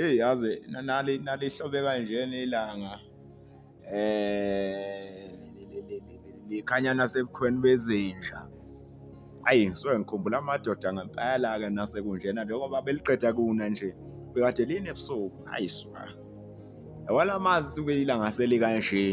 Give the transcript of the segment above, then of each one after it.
Eyi yazi nali nalihlobe kanjena ilanga eh likhanya nasebukhweni bezinja ayi ngisuke ngikhumbula amadoda ngempela-ke nasekunjena njengoba beliqeda kuna nje bekade lini ebusuku ayi swa yabona amanzi suke ilanga selikanje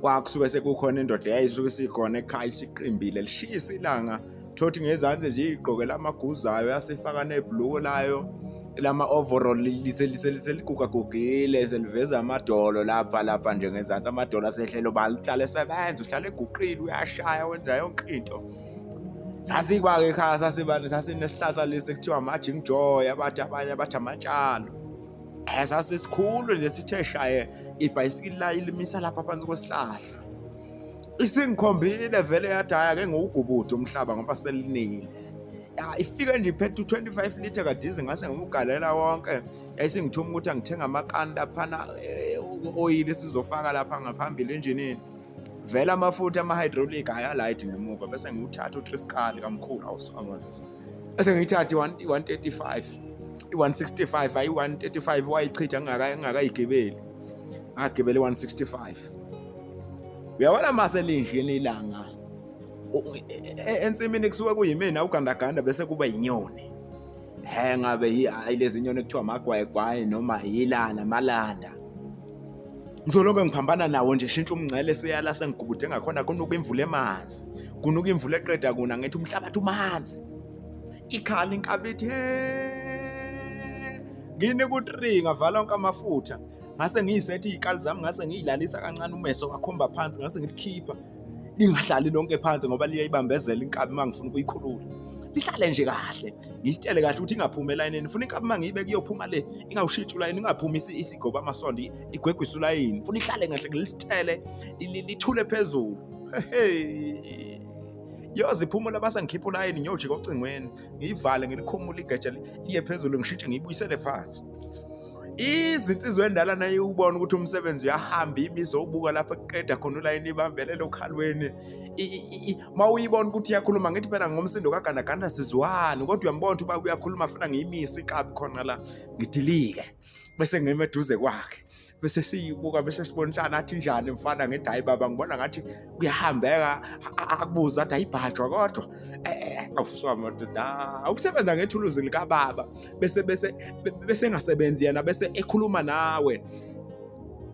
kwakusuke sekukhona indoda eyayisuke sikhona ekhaya isiqimbile lishisa ilanga thothi ngezansi nje igqokela amaguzayo yasifaka nebhluko layo lama overall liseligugagugile seliveza amadolo lapha lapha nje ngezansi amadolo asehlelo balihlale sebenza uhlale eguqile uyashaya wenza yonke into sasikwake ekhaya sasibane sasinesihlahla lesi kuthiwa amajing joy abathi abanye abathi amatshalo esasisikhulu nje sithe shaye ibhayisikili layo limisa lapha phansi kwesihlahla isingikhombile vele yathi hhayi ake ngiwugubuthe umhlaba ngoba selinile ifike nje iphethe u-25 litre kadizi ngase ngiwugalela wonke yayisingithuma ukuthi angithenga amakanda phana eh, u-oyili sizofaka lapha ngaphambili enjinini vele amafutha ama-hydraulic ayalayithi ngemuva bese ngiwuthatha utriskali kamkhulu awusangona ese ngiyithathe i-135 i-165 ayi 135 wayichitha ngingakayigibeli ngagibela i-165 uyabona mase linjini ilanga ensimini kusuke kuyimina ugandaganda bese kuba yinyoni he ngabe hayi lezi nyoni ekuthiwa amagwayigwayi noma yilana malanda ngizolonge ngiphambana nawo nje shintsha umngcele seyala sengigubude ngakhona kunuka imvula emanzi kunuka imvula eqeda kuna ngithi umhlabathi umanzi ikhala inkabithi ngine ku-three ngavala onke amafutha ngase ngiyisethi iy'kali zami ngase ngiyilalisa kancane umeso wakhomba phansi ngase ngilikhipha lingahlali lonke phansi ngoba liyayibambezela inkabi uma ngifuna ukuyikhulula lihlale nje kahle ngisitele kahle ukuthi ingaphumi elayinini funa inkabi uma ngiyibeke iyophuma le ingawushintshi ulayini ingaphumi isigoba amasondo igwegwise ulayini funa ihlale kahle ngilisithele lithule phezulu yoze iphumula base ngikhipha ulayini ngiyojika ocingweni ngiyivale ngilikhumule igeja liye phezulu ngishintshe ngiyibuyisele phansi izinsizwa endala naye ubona ukuthi umsebenzi uyahamba imi izobuka lapho kuqeda khona ulayini ibambelele okhalweni ma uyibona ukuthi iyakhuluma ngithi phela ngomsindo kagandaganda sizwani kodwa uyambona ukuthi uba uyakhuluma funa ngiyimisi iqabi khona la ngidilike bese ngime eduze kwakhe bese siyibuka bese sibonisana athi njani mfana ngithi hayi baba ngibona ngathi kuyahambeka akubuza athi ayibhajwa kodwa awufuswa eh, eh, madoda awukusebenza ah, ngethuluzi likababa bese bese bese engasebenzi yena bese ekhuluma nawe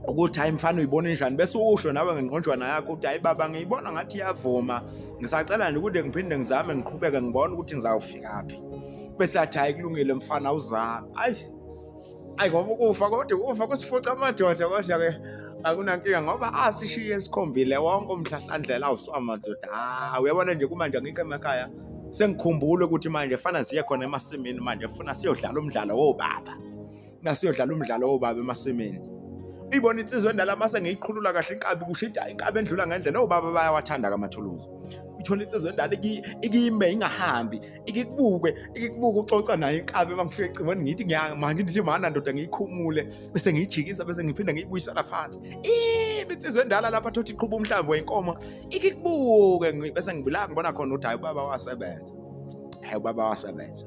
ukuthi hayi mfana uyibona njani bese usho nawe ngengqonjwana yakho ukuthi hayi baba ngiyibona ngathi iyavuma ngisacela nje ukuthi ngiphinde ngizame ngiqhubeke ngibone ukuthi ngizawufikaphi bese athi hayi kulungile mfana uzame ayi ayi ngoba ukufa kodwa ukufa kusifuca amadoda kodwa ke akunankinga ngoba asishiye sikhombile wonke umhlahlandlela awuswa madoda ah uyabona nje kumanje ngikho emakhaya sengikhumbule ukuthi manje fana siye khona emasimini manje funa siyodlala umdlalo wobaba nasiyodlala umdlalo wobaba emasimini uyibona insizwa endala mase ngiyiqhulula kahle inkabi kushida inkabi endlula ngendlela obaba bayawathanda kamathuluzi uthola insizwa endala ikime ingahambi ikikubuke ikikubuke uxoxa nayo inkabi uma ngifika ecingweni ngithi ngiyamanje nje mana ndoda ngiyikhumule bese ngiyijikisa bese ngiphinda ngiyibuyisela phansi iminsizwa endala lapha thothi iqhuba umhlambi wenkomo ikikubuke bese ngibulaka ngibona khona ukuthi hayi ubaba wasebenza hayi ubaba wasebenza